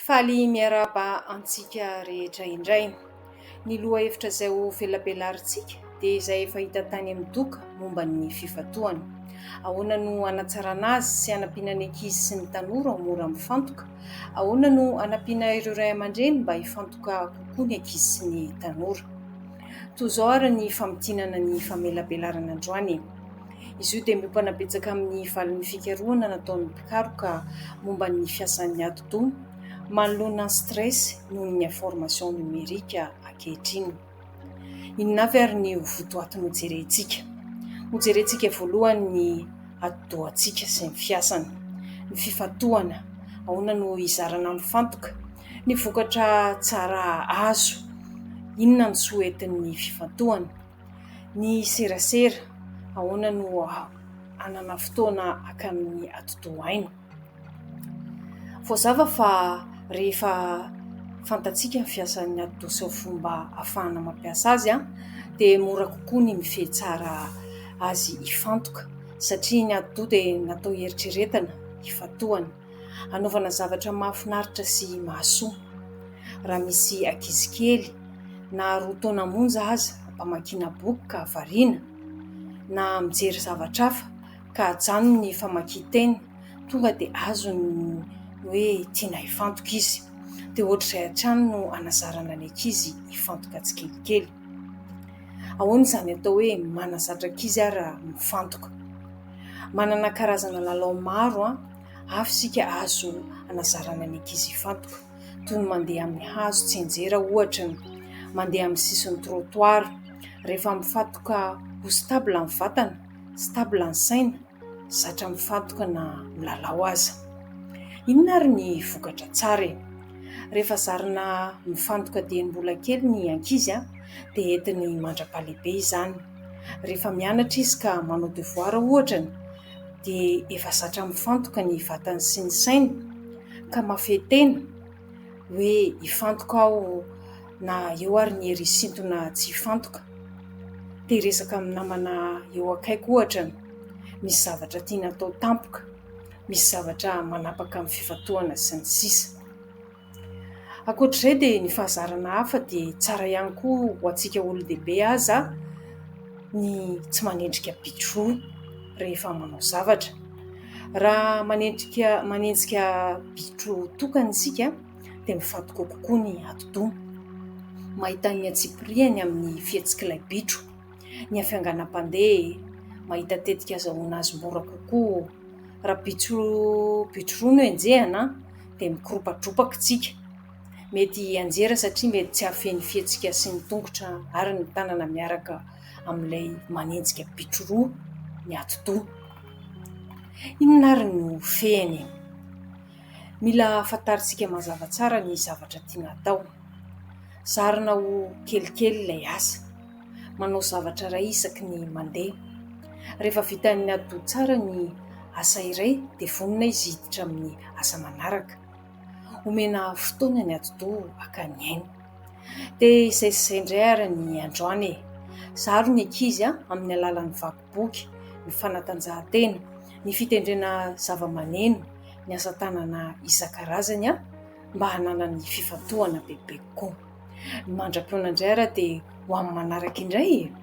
Faly miarahaba antsika rehetra indray. Ny lohahevitra izay ho velabelarintsika dia izay efa hita tany amin'ny doka momba ny fifantohana. Ahoana no hanatsarana azy sy hanampiana ny ankizy sy ny tanora ho mora mifantoka? Ahoana no hanampiana ireo ray aman-dreny mba hifantoka kokoa ny ankizy sy ny tanora? Toy izao àry ny famintinana ny famelabelarana androany. Izy io dia miompana betsaka amin'ny valin'ny fikarohana nataon'ny mpikaroka momba ny fiasan'ny atidoha manoloana ny stress noho ny information numerique ankehitriny. Inona avy ary ny ho votoatiny ho jerentsika? Ho jerentsika voalohany ny atidohantsika sy ny fiasany, ny fifantohana, ahoana no hizarana mifantoka, ny vokatra tsara azo, inona ny soa entin'ny fifantohana. Ny serasera, ahoana no hanana fotoana haka amin'ny atidoha aina? Voazava fa rehefa fantatsika ny fiasan'ny atidoha sy ny fomba ahafahana mampiasa azy dia mora kokoa ny mifehy tsara azy hifantoka satria ny atidoha dia natao hieritreretana, hifantohana. hanaovana zavatra mahafinaritra sy mahasoa. Raha misy ankizy kely na roa taona monja aza hamakiana boky ka variana, na mijery zavatra hafa ka ajanony ny famakian-teny, tonga dia azony ny hoe tiana hifantoka izy. Dia hoatr'izay hatrany no hanazarana ny ankizy hifantoka tsikelikely. Ahoana izany atao hoe manazatra ankizy ary mifantoka? Manana karazana lalao maro hafa isika azo hanazarana ny ankizy hifantoka, toy ny mandeha amin'ny hazo tsianjera ohatra, mandeha amin'ny sisin'ny trottoir. Rehefa mifantoka ho stable ny vatana, stable ny saina, zatra mifantoka na milalao aza. Inona ary ny vokatra tsara e ? Rehefa zarina mifantoka dieny mbola kely ny ankizy dia entiny mandra-pahalehibe izany. Rehefa mianatra izy ka manao devoara ohatra dia efa zatra mifantoka ny vatany sy ny sainy ka mahafehy tena hoe hifantoka aho na eo ary ny hery hisintona tsy hifantoka. Te hiresaka amin'ny namana eo akaiky ohatra ny misy zavatra tiana atao tampoka, misy zavatra manapaka amin'ny fifantohana sy ny sisa. Ankoatra izay dia ny fahazarana hafa dia tsara ihany koa ho antsika olon-dehibe aza ny tsy manenjika bitro rehefa manao zavatra. Raha manenjika manenjika bitro tokana isika dia mifantoka kokoa ny atidoha. Mahita ny antsipiriany amin'ny fihetsik'ilay bitro, ny hafianganam-pandeha, mahita tetika azahoana azy mora kokoa. Raha bitro bitro roa no enjehina an! dia mikoropatropaka isika. Mety hianjera satria mety tsy hahafehy ny fihetsika sy ny tongotra ary ny tanana miaraka amin'ilay manenjika bitro roa ny atidoha. Inona ary no fehiny? Mila fantarintsika mazava tsara ny zavatra tiana atao. Zarina ho kelikely ilay asa. manao zavatra iray isaky ny mandeha. Rehefa vitan'ny hadio tsara ny asa iray dia vonona izy hiditra amin'ny asa manaraka. Omena fotoana ny atidoha haka ny ainy. Dia izay sy izay indray ary ny androany e! Zaro ny ankizy amin'ny alalan'ny vaky boky, ny fanatanjahantena, ny fitendrena zavamaneno, ny asa tanana isan-karazany. mba hananany fifantohana bebe kokoa. Mandra-poana indray ary dia ho amin'ny manaraka indray e!